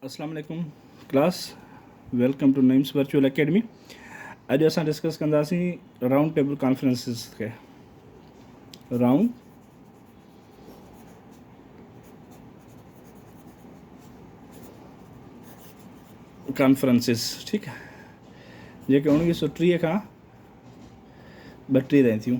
اسلام عليڪم class welcome to Nemis virtual academy اڄ اسان ڊسڪس ڪنداسين رائونڊ ٽيبل ڪانفرنسز کي رائونڊ ڪانفرنسز ٺيڪ آهي جيڪي اڻويهه سو ٽيهه کان ٻ ٽيهه رهن ٿيون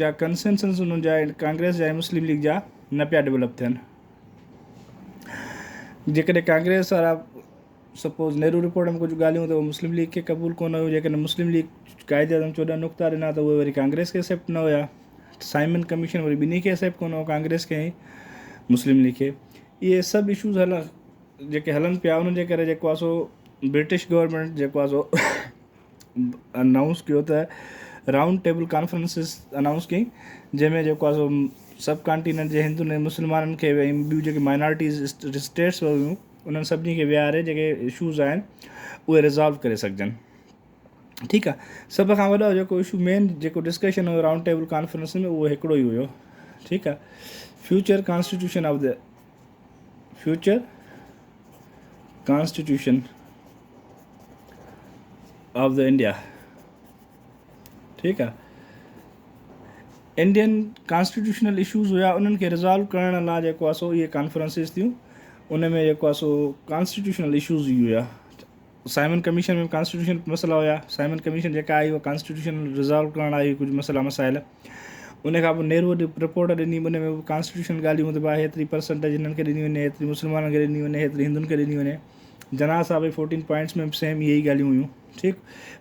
جا ڪنسينسز انهن جا ۽ ڪانگريس جا ۽ مسلم ليگ جا نه پيا ڊولپ ٿين. جيڪڏهن ڪانگريس وارا سپوز نهرو رپورٽ ۾ ڪجهه ڳالهيون ته اهي مسلم ليگ کي قبول ڪونه هيون جيڪڏهن مسلم ليگ قائد اعظم چوڏهن نقطا ڏنا ته اهي وري ڪانگريس کي اسيپٽ نه هيا سائمن ڪميشن وري ٻنهي کي اسيپٽ ڪونه هو ڪانگريس کي ۽ مسلم ليگ کي اهي سڀ اشوز هل جيڪي هلن پيا انهن جي ڪري جيڪو آهي سو برٽش گورنمينٽ جيڪو آهي سو انائونس ڪيو ته رائونڊ ٽيبل ڪانفرنس انائونس ڪئي جنهن ۾ جيڪو آهي سو سب ڪانٽيننٽ جي هندن ۽ مسلمانن کي ۽ ٻيون جيڪي مائنارٽيز اسٽيٽس هيون انهن سڀني کي ويهاري جيڪي اشوز آهن اهي رزالو ڪري سگهجن ٺيڪ آهي سڀ کان وڏو جيڪو اشو مين جيڪو ڊسڪشن هو رائونڊ ٽيبل ڪانفرنس ۾ اهو هڪڙو ئي هيو ٺيڪ آهي future constitution of the future constitution of the India ٺيڪ آ انڊين ڪانسٽيٽيوشنل اشوز هيا انهن کي ريزالو ڪرڻ لاء جيڪو آهي سو اهي ڪانفرنسز ٿيون ان ۾ جيڪو آهي سو ڪانسٽيٽيوشنل اشوز هيا سائمن ڪميشن ۾ به ڪانسٽيٽيوشنل مسئلا هيا، سائمن ڪميشن جيڪا آئي اها ڪانسٽيٽيوشن ريزالو ڪرڻ آئي هئي ڪجهه مسئلا مسائل، ان کان پوء نهروء رپورٽ ڏني ان ۾ به ڪانسٽيٽيوشنل ڳالهيون ته ڀاء هيتري پرسنٽيج هنن کي ڏني وڃي، هيتري مسلمانن کي ڏني وڃي، هيتري هندن کي ڏني وڃي، جناح صاحب جي فورٽين پوائنٽس ۾ به سيم اهي ئي ڳالهيون هيون ٺيڪ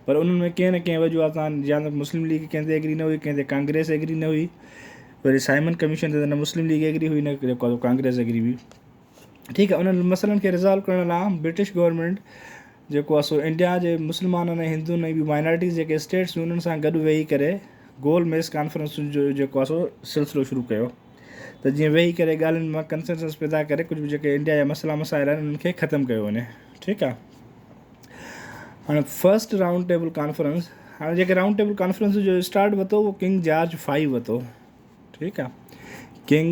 پر انهن ۾ ڪنهن نه ڪنهن وجوهات سان يا ته مسلم ليگ ڪنهن تي ايگري نه هئي ڪنهن تي ڪانگريس ايگري نه هئي وري سائمن ڪميشن تي ته نه مسلم ليگ ايگري هئي نه ڪانگريس ايگري هئي. ٺيڪ آهي انهن مسئلن کي ريزالو ڪرڻ لاء برٽش گورنمينٽ جيڪو آهي سو انڊيا جي مسلمانن ۽ هندون ۽ ٻيون مائنارٽيز جيڪي اسٽيٽس هيون انهن سان گڏ ويهي ڪري گول ميز ڪانفرنسن جو جيڪو آهي سو سلسلو شروع ڪيو ته جيئن ويهي ڪري ڳالهين مان ڪنسنسس پيدا ڪري ڪجهه به جيڪي انڊيا جا مسئلا مسائل آهن انهن کي ختم ڪيو وڃي ٺيڪ آهي هاڻي فرسٽ رائونڊ ٽيبل ڪانفرنس هاڻي جيڪي رائونڊ ٽيبل ڪانفرنس جو اسٽارٽ وتو اهو ڪنگ جارج فائيو وتو ٺيڪ آهي ڪنگ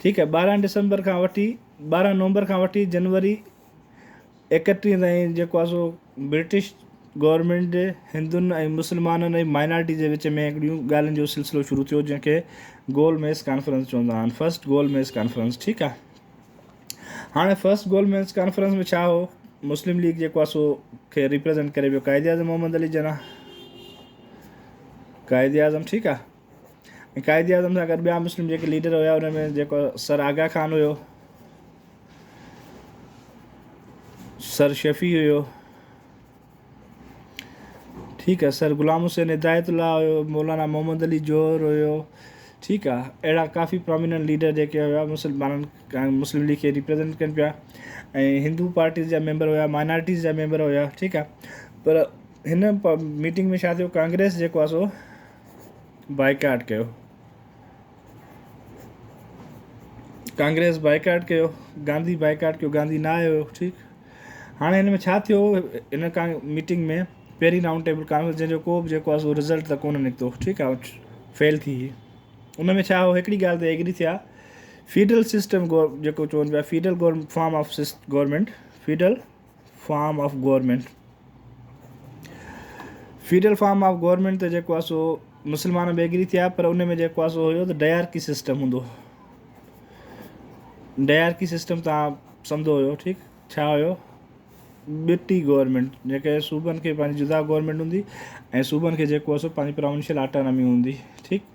ٺيڪ آهي ٻارهن ڊسمبر کان وٺي ٻارهن نومبر کان وٺي جنوري اڪٽيهه تائين جيڪو آهي سو برٽش گورمينٽ جي هندن ۽ مسلمانن ۽ مائنارٽي جي وچ ۾ هڪڙيون ڳالهين جو سلسلو شروع ٿيو جنهن کي گول ميز ڪانفرنس چوندا آهن فرسٽ گول ميز ڪانفرنس ٺيڪ آهي هاڻي فرسٽ گول ميز ڪانفرنس ۾ ڇا هو مسلم ليگ جيڪو آهي سو کي ريپريزنٽ ڪري ويو قائد اعظم محمد علي جناح قائد اعظم ٺيڪ آهي ۽ قائد اعظم سان گڏ ٻيا مسلم جيڪي ليڊر هيا انهن ۾ جيڪو سر آغا خان هيو سر شفيع هيو ٺيڪ آهي سر غلام حسين هدايت الله هيو مولانا محمد علي جوهر هيو ٺيڪ آهي اهڙا ڪافي پروميننٽ ليڊر جيڪي هيا مسلمانن مسلم ليگ کي ريپريزنٽ ڪن پيا ۽ هندو پارٽيز جا ميمبر هيا مائنارٽيز جا ميمبر هيا ٺيڪ آهي پر هن ميٽنگ ۾ ڇا ٿيو ڪانگريس جيڪو آهي سو بائيڪاٽ ڪيو، ڪانگريس بائيڪاٽ ڪيو، گانڌي بائيڪاٽ ڪيو، گانڌي نه آيو ٺيڪ هاڻي هن ۾ ڇا ٿيو هن ڪا ميٽنگ ۾ پهرين رائونڊ ٽيبل ڪانفرنس جنهن جو ڪو به جيڪو آهي سو رزلٽ ته ڪونه نڪتو ٺيڪ آهي فيل ٿي هي ان ۾ ڇا هو هڪڙي ڳالهه تي ايگري ٿيا فيڊرل سسٽم گور جيڪو چون پيا فيڊرل گور فارم آف سسٽ government federal form of government, federal form of government ته جيڪو آهي سو مسلمان به ايگري ٿيا پر ان ۾ جيڪو آهي سو هيو ته ڊيارڪي سسٽم هوندو ڊيارڪي سسٽم تان سمجهو هيو ٺيڪ ڇا هيو ٻٽي گورنمينٽ جيڪي صوبن کي پنهنجي جدا گورنمينٽ هوندي ۽ صوبن کي جيڪو آهي سو پنهنجي پراونشل آٽانامي هوندي ٺيڪ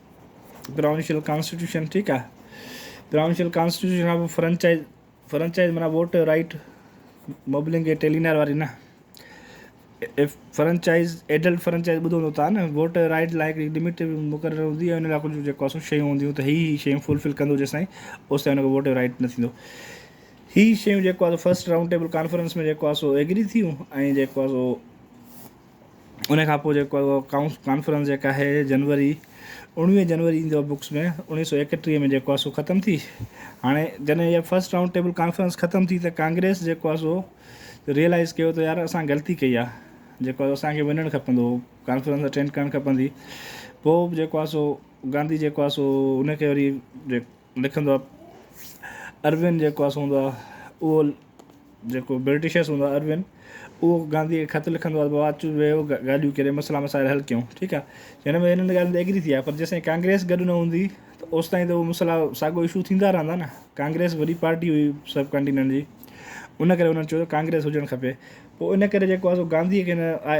پراونشل ڪانسٽيٽيوشن ٺيڪ آ پراونشل ڪانسٽيٽيوشن کان پوء فرنچائز فرنچائز معنيٰ ووٽ رائيٽ مبلنگ اي ٽيلينار واري نه فرنچائز ايڊلٽ فرنچائز ٻڌو هوندو تان نه ووٽ رائيٽ لاء هڪڙي لمٽ مقرر هوندي ۽ ان لاء ڪجهه جيڪو سو شيون هونديون ته هي هي شيون فلفل ڪندو جيسين اوس تائين ان کي ووٽ رائيٽ نه ٿيندو هي شيون جيڪو آ سو فرسٽ رائونڊ ٽيبل ڪانفرنس ۾ جيڪو آ سو ايگري ٿيون ۽ جيڪو آ سو ان کان پوء جيڪو ڪائونس ڪانفرنس جيڪا آهي جنوري اوڻويهه جنوري ايندو آهي بڪس ۾ اوڻيهه سو ايڪٽيهه ۾ جيڪو آهي سو ختم ٿي هاڻي جڏهن اها فسٽ رائونڊ ٽيبل ڪانفرنس ختم ٿي ته ڪانگريس جيڪو آهي سو ريئلائز ڪيو ته يار اسان غلطي ڪئي آهي جيڪو آهي اسانکي وڃڻ کپندو هو ڪانفرنس اٽينڊ ڪرڻ کپندي پوء به جيڪو آهي سو گانڌي جيڪو آهي سو ان کي وري لکندو آ اروين جيڪو آ سو هوندو آ اهو جيڪو برٽشس هوندو آ اروين اهو گانڌيء کي خط لکندو آ بابا اچ ويهه ڳالهيون ڪري مسئلا مسائل حل ڪيون ٺيڪ آ هن ۾ هنن ڳالهين تي ايگري ٿي آ پر جيسين ڪانگريس گڏ نه هوندي ته اوستائين ته اهو مسئلا ساڳو اشو ٿيندا رهندا نه ڪانگريس وڏي پارٽي هئي سب ڪانٽيننٽ جي ان ڪري هنن چيو ته ڪانگريس هجڻ کپي پوء ان ڪري جيڪو آ سو گانڌيء کي هن آء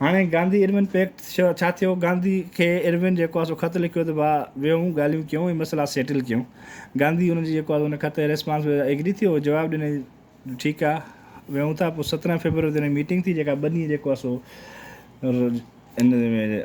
هاڻي گانڌي ارون پيڪٽ ڇا ٿيو؟ گانڌي کي ارون جيڪو آهي سو خط لکيو ته ڀاء ويهون ڳالهيون ڪيون ۽ مسئلا سيٽل ڪيون. گانڌي ان جي جيڪو آهي ان خط ريسپانس ۾ ايگري ٿيو جواب ڏني جو ٺيڪ آهي ويهون ٿا پوء سترهن فيبروري تي ان جي ميٽنگ ٿي جيڪا ٻه ڏينهن جيڪو آهي سو ان ۾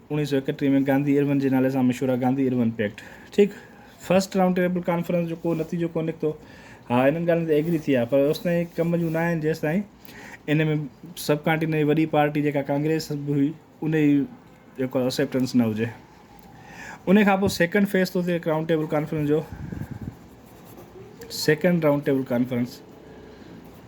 اڻيهه سؤ اڪٽيهه ۾ گانڌي ارون جي نالي سان مشهور آهي گانڌي ارون پيڪٽ ٺيڪ فرسٽ رائونڊ ٽيبل ڪانفرنس جو ڪو نتيجو ڪو نڪتو ها انهن ڳالهين تي ايگري ٿي آهي پر اوستائين ڪم جون نه آهن جيستائين ان ۾ سب ڪانٽيني وڏي پارٽي جيڪا ڪانگريس به هئي ان جي جيڪو اسيپٽنس نه هجي ان کان پوء سيڪنڊ فيس ٿو ٿئي رائونڊ ٽيبل ڪانفرنس جو سيڪنڊ رائونڊ ٽيبل ڪانفرنس